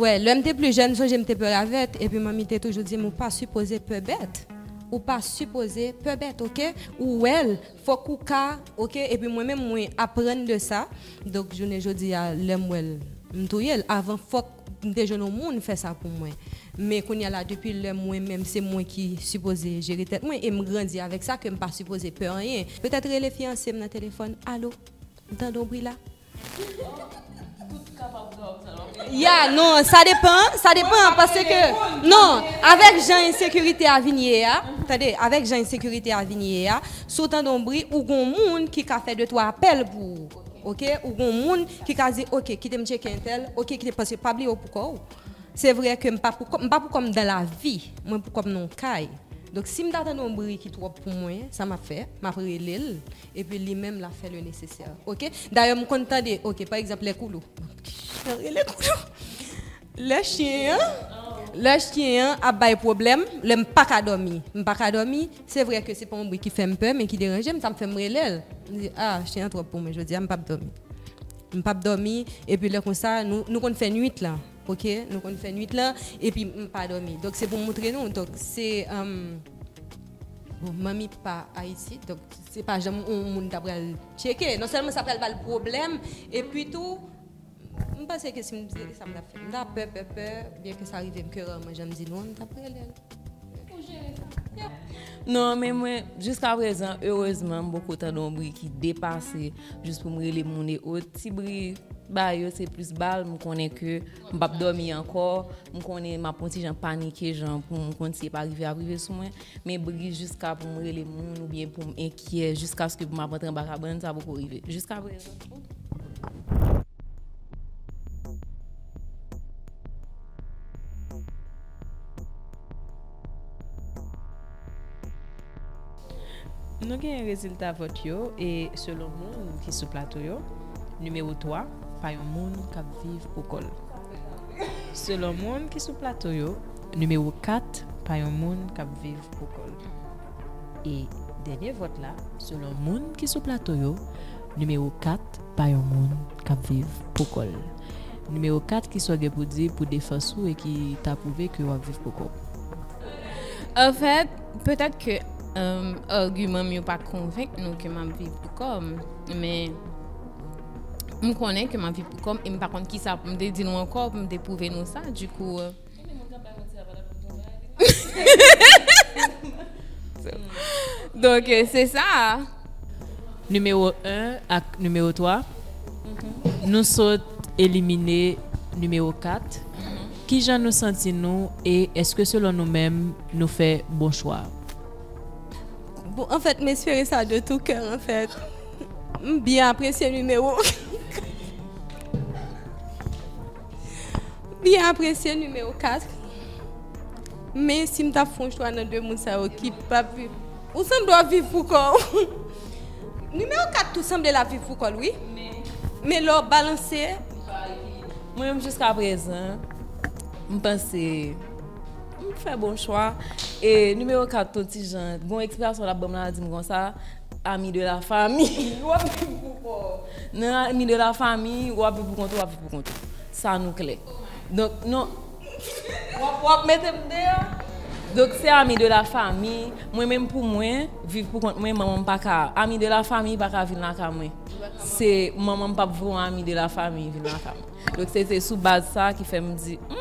Wè lèm te pli jèn m sonje m te pè ravèt epi manmi te toujou di m ou pa sipoze pè bèt ou pa sipoze pè bèt ok ou wèl fòk ou ka ok epi mwen menm mwen aprann de sa donk jounen jodi a lèm wèl m touye l avan fòk M te jwenn yon moun fè sa pou mwen. Men kounya la depi lè mwen menm se mwen ki sipoze jere tèt mwen e m grandi avèk sa ke m pa sipoze pè anyen. Petèt rele fiyanse m nan telefòn, Alo, m tande yon bri la. Ya, non, sa depan, sa depan paske non, avèk jan ensekirite a vin ye a, tande, avèk jan ensekirite a vin ye a, si w tande yon bri ou gen yon moun ki ka fè de twa apèl pou ou. ok ou gon moun ki ka di ok kitem tcheke entèl ok kitem paske pa bliye ou pou kòw se vre ke mpa pou kòm mpa pou kòm dan lavi mwen pou kòm nan yon kay donk sim ta tande yon bri ki twòp pou mwen sa map fè map relel epi li menm lap fè le nesesè ok dayè mkonn tande ok pa egzanp lè koulou map rele koulou. Lè chyen an Lè chyen an ap bay pwoblèm, lè m pa ka dòmi M pa ka dòmi Se vre ke se pa yon bri ki fè m pè men ki deranje m, sa m fè m rele l M di, a, chyen an twòp pou mwen jodi a M pap dòmi M pap dòmi Epi lè konsa nou nou konn fè nuit lan Ok Nou konn fè nuit lan epi m pa dòmi Donk se pou m montre nou Donk se Bon manmi pa Ayiti Donk se pa janm yon moun ta pral tcheke Non sèlman sa pral ba l pwoblèm Epi tou M panse ke si m te li sa m tap fè. M ta pè pè pè byen ke sa rive m ke rarman jan m di nou an m tap rele l. Ou jere sa? Yep. Non men mwen jiska prezan erezman m poko tande yon bri ki depase jis pou m rele moun e ot. Ti bri bay yo se plis bal m konnen ke m pap dòmi ankò. M konnen m ap yon ti jan panike jan pou m konn si e pa rive ap rive sou mwen. Men bri jiska pou m rele moun oubyen pou m enkyè jiskaske pou m ap antre anba kabann sa poko rive jiska prezan. Nou genyen rezilta vòt yo e selon moun ki sou plato yo, nimewo 3 pa yon moun k ap viv pou kò l. Selon moun ki sou plato yo, nimewo 4 pa yon moun k ap viv pou kò l. E dènye vòt la, selon moun ki sou plato yo, nimewo 4 pa yon moun k ap viv pou kò l. Nimewo 4, ki sa w gen pou di pou defans ou e ki ta pwouve ke w ap viv pou kò w? Anfèt, petèt ke agiman m yo pa konvenk nou ke m ap viv pou kò m, men m konnen ke m ap viv pou kò m e m pa konn kisa pou m te di nou ankò pou m te pwouve nou sa. Dikou. Donk se sa a. Nimewo 1 ak nimewo 3, nou sot elimine nimewo 4. Ki jan nou santi nou e èske selon nou menm nou fè bon chwa? Bon anfèt m espere sa de tou kè anfèt. M byen apresye nimewo 4. Byen apresye nimewo 4 Men si m ta fon chwa nan 2 moun sa yo ki pa ap viv Ou sanble w ap viv pou kò w Nimewo 4 tou sanble l ap viv pou kò l wi Men lè w balanse Mwen menm jiska prezan M panse M fè bon chwa E nimewo 4 ton ti jan Gon eksplikasyon l ap ban m la di m konsa Ami de la fami Ou ap viv pou kò ou Nan ami de la fami Ou ap viv pou kont ou Ou ap viv pou kont ou Sa nou klè Donk non Ou ap mete m deyò Donk se ami de la fami Mwen menm pou mwen Viv pou kont mwen Manman m pa ka Ami de la fami pa ka vin lakay mwen Se Manman m pap vre yon ami de la fami vin lakay mwen Donk se te sou baz sa ki fè m di Humm.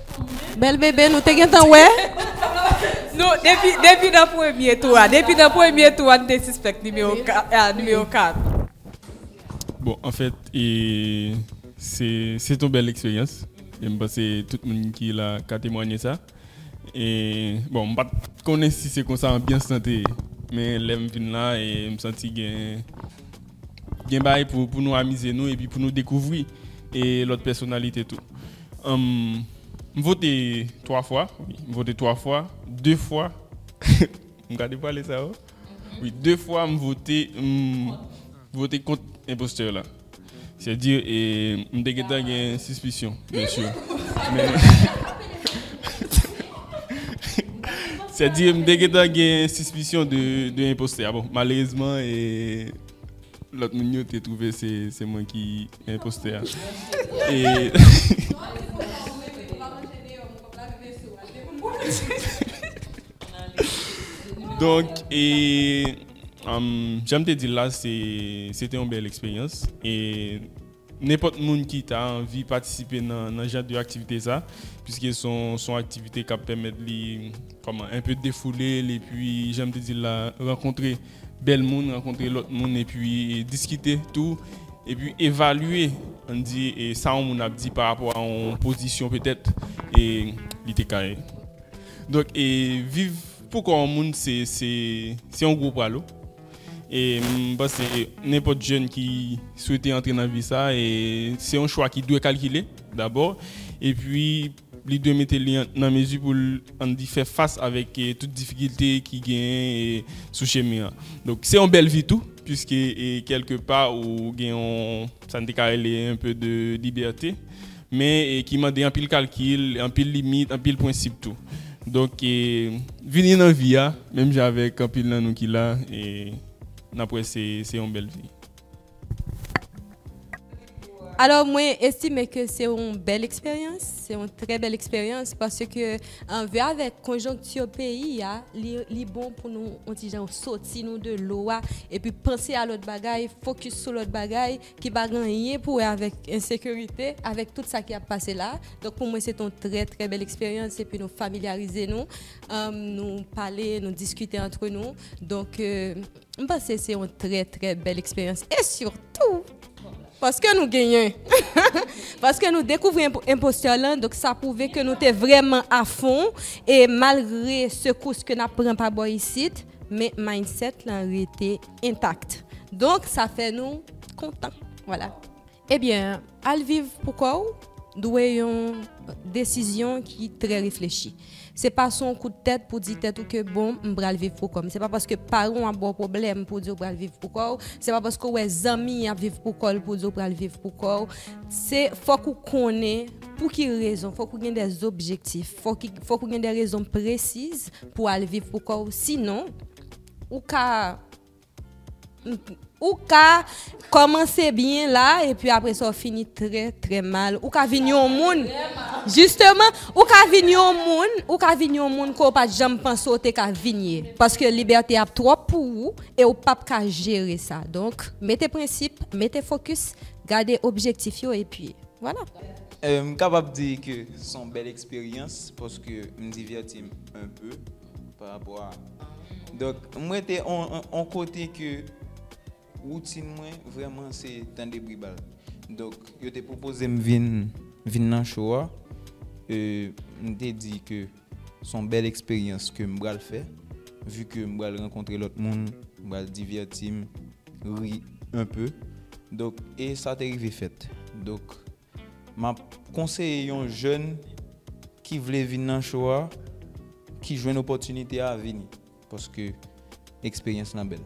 Bèl bebe nou te gentan wè. Nou depi depi nan premye tou a depi nan premye tou a nou te sispèk nimewo 4 a nimewo 4. Bon anfèt e se se t yon bèl eksperyans e m panse tout moun ki la ka temwanye sa e bon m pat konnen si se konsa anbyans lan te ye men lè m vin la e m santi gen gen bagay pou pou nou amize nou epi pou nou dekouvri e lòt pèsonalite tou. M vote 3 fwa wi m vote 3 fwa 2 fwa m gade pale sa yo wi 2 fwa m vote m vote kont enpostè la sè di m te gentan gen sispisyon byen si men sè di m te gentan gen sispisyon de enpostè a bon malerezman e lòt moun yo te twouve se mwen ki Imposteur. Donk e janm te di la se se te yon bèl eksperyans e nenpòt moun ki ta anvi patisipe nan jan de aktivite sa piske son aktivite kap pèmèt li kòman enpe defoule l epi janm te di la rankontre bèl moun, rankontre lòt moun epi diskite tou epi evalye ann di sa yon moun ap di pa rapò a yon pozisyon petèt li te ka gen. Donk viv pou kò yon moun se yon gwo pralo e m panse nenpòt jèn ki swete antre nan vi sa se yon chwa ki dwe kalkile dabò epi Li dwe mete li nan mezi pou l an di fè fas avèk tout difikilte ki genyen sou chemen an. Donk se yon bèl vi tou puiske kèlke pa ou gen yon sa n te ka rele un peu de liberté men ki mande anpil kalkil, anpil limit, anpil prensip tou. Donk vini nan vi a menm jan avèk anpil nan nou ki la e n ap wè se yon bèl vi. Alò mwen estime ke se yon bèl eksperyans, se yon trè bèl eksperyans paske anve avèk konjonkti peyi a, li bon pou nou yon ti jan soti nou de lo a epi panse a lòt bagay, fokis sou lòt bagay ki pa gen anyen pou wè avèk ensekirite, avèk tout sa ki ap pase la a. Donk pou mwen se te yon trè trè bèl eksperyans epi nou familyarize nou, nou pale, nou diskite antre nou. M panse se yon trè trè bèl eksperyans e sitou paske nou genyen paske nou dekouvri enpostè lan donk sa pwouve ke nou te vrèman afon e malgre sekous ke n ap pran pa bò isit men mindset lan rete intact donk sa fè nou kontan wala. Ebyen, al viv pou kò w dwe yon desizyon ki trè reflechi. Se pa sou yon kout tèt pou di tèt ou ke bon m pral viv pou kò m. Se pa paske paran w ap ba w pwoblèm pou w di w pral viv pou kò w. Se pa paske w wè zanmi ap viv pou kò l pou w di w pral viv pou kò w. Se fòk ou konnen pou ki rezon, fòk ou gen de objektif, fòk ou gen de rezon presiz pou w al viv pou kò w. Sinon, ou ka. Ou ka kòmanse byen la epi apre sa w fini trè trè mal. Ou ka vin yon moun, jisteman, ou ka vin yon moun, ou ka vin yon moun ke w pa t janm panse w te ka vin ye. Paske libète ap twòp pou ou e w pap ka jere sa. Donk, mete prensip, mete fokis, gade objektif yo epi vwala. M kapab di ke se yon bèl eksperyans paske m divèti m enpe. pa rapò a donk m rete on kote ke woutin mwen vreman se tande bri bal donk yo te pwopoze m vin vin nan cho a e m te di ke son bèl eksperyans ke m bral fè vi ke m bral rankontre lòt moun m bral divèti m ri un peu donk e sa te rive fèt donk Map konseye yon jèn ki vle vin nan show a ki jwenn opòtinite a vini paske eksperyans lan bèl.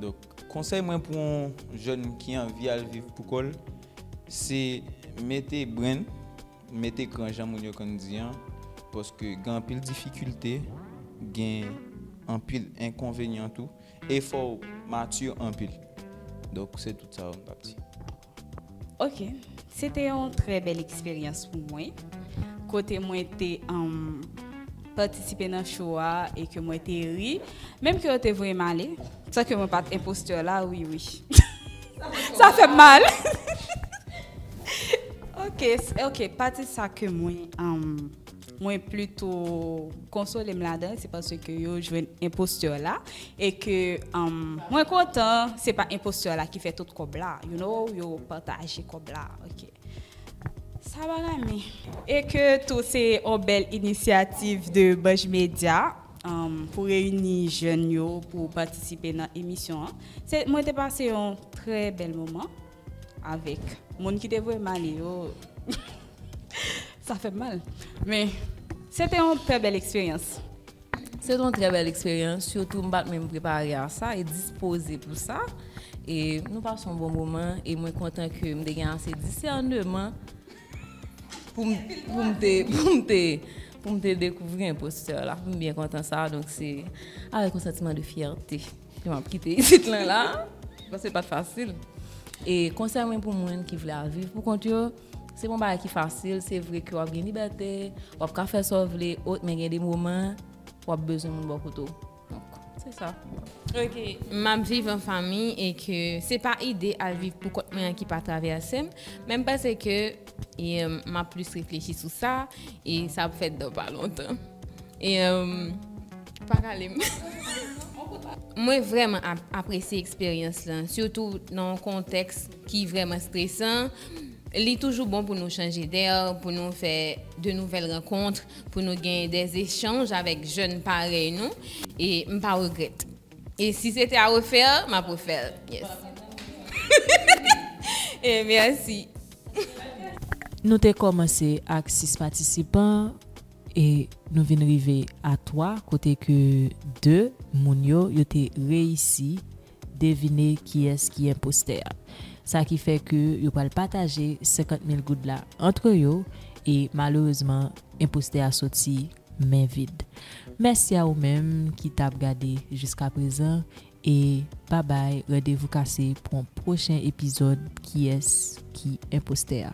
Donk konsèy mwen pou yon jèn ki anvi al viv pou kòl se mete brenn, mete kran jan moun yo konn di an paske gen anpil difikilte, gen anpil enkonvenyan tou e fòw mature anpil. Donk se tout sa mtap di. Ok se te yon trè bèl eksperyans pou mwen kote mwen te patisipe nan cho a e ke mwen te ri menm ke yo te voye m ale san ke mwen pat enpostè la wi wi sa fè m mal ok ok pati sa ke mwen Mwen plito konsole m ladan se paske yo jwenn enpostè la e ke mwen kontan se pa enpostè la ki fè tout kòb la you know yo pataje kòb la ok sa bagay mi e ke tou se yon bèl inisyativ de Banj Media pou reyini jèn yo pou patisipe nan emisyon an mwen te pase yon trè bèl moman. Avek moun ki te voye m ale yo sa fem mal. Men se te yon trè bel eksperyans. Se te yon trè bel eksperyans sitou m pat menm prepare a sa e dispoze pou sa. E nou pase yon bon moman e mwen kontan ke m te gen ase disèneman pou m te dekouvri enpostè la. M byen kontan sa donk se avek yon santiman de fyète. M ap kite isit lan la. Paske l pa t fasil. E konsèy mwen pou moun ki vle al viv pou kont yo, se pa yon bagay ki fasil. Se vre ke w ap gen libète, w ap ka fè sa w vle, men gen de moman w ap bezwen moun bò kote w. Donk, se sa. Ok. M ap viv an fanmi e ke se pa ide al viv pou kont mwen an ki pa travèse m. Men m panse ke M ap plis reflechi sou sa e sa ap fèt dan pa lontan. E pa rale m. Mwen vreman apresye eksperyans lan, sitou nan yon kontèks ki vreman stresan. Li toujou bon pou nou chanje dè, pou nou fè de nouvèl rankont, pou nou gen de zechanj avèk jèn parèy nou. E m pa regrèt. E si se te a refè, m ap refè l. Yes. E mèsi. Nou te kòmanse ak 6 patisipan e nou vin rive a 3 kote ke 2 moun yo, yo te reyisi devine kiyès ki enpostè a. Sa ki fè ke yo pral pataje 50 mil goud la antre yo e malerezman enpostè a soti men vid. Mèsi a ou menm ki tap gade jiskaprezan E babay randevou kase pou yon pwochen epizòd kiyès ki enpostè a.